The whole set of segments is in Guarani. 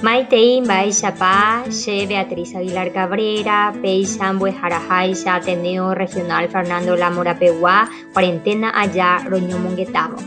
Maitei mba'éichapa che Beatriz Aguilar Cabrera, péicha mbo'eharaháicha Ateneo Regional Fernando Lamo rapegua kuarenténa aja roñomongetávo.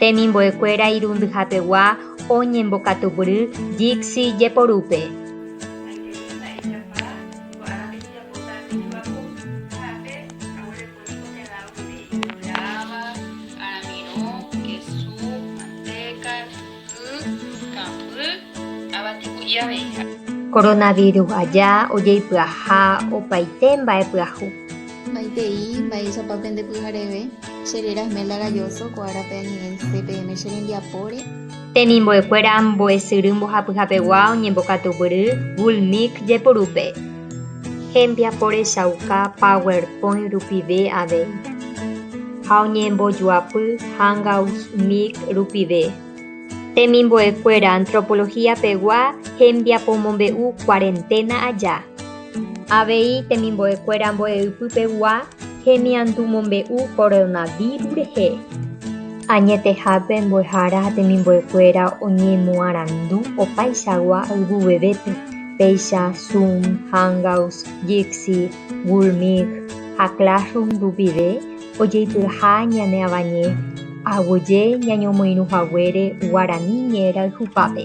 Temimbo'ekuéra irundyhapegua oñembokatupyry Jixi jeporúpe. Coronavirus aja ojeipyaha opaite mba'e pyahu. Maitei, mba'éichapa pende pyhareve, che réra Esmelda Galloso, ko árape añe'ẽ CPM che rembiapóre. Tenimbo'ekuéra mbo'esyry mbohapyhapegua oñembokatugury Google Meet jepurúpe. Hembiapo rechauka PowerPoint rupive avei, ha oñembojoapy Hangouts Meet rupive. Temimbo'ekuéra Antropología-pegua hembiapomombe'u Cuarentena aja. Avei temimbo'ekuéra mbo'eipypegua hemiandu mombe'u coronavirus rehe. Añetehápe mbo'ehára ha temimbo'ekuéra oñemoarandu opaichagua ayvuvevépe, péicha Zoom, Hangouts, Jitsi, Google Meet ha Classroom rupive ojeipyha ñane avañe aguyje ñañomoirũhaguére Guarani ñe'ẽrayhupápe.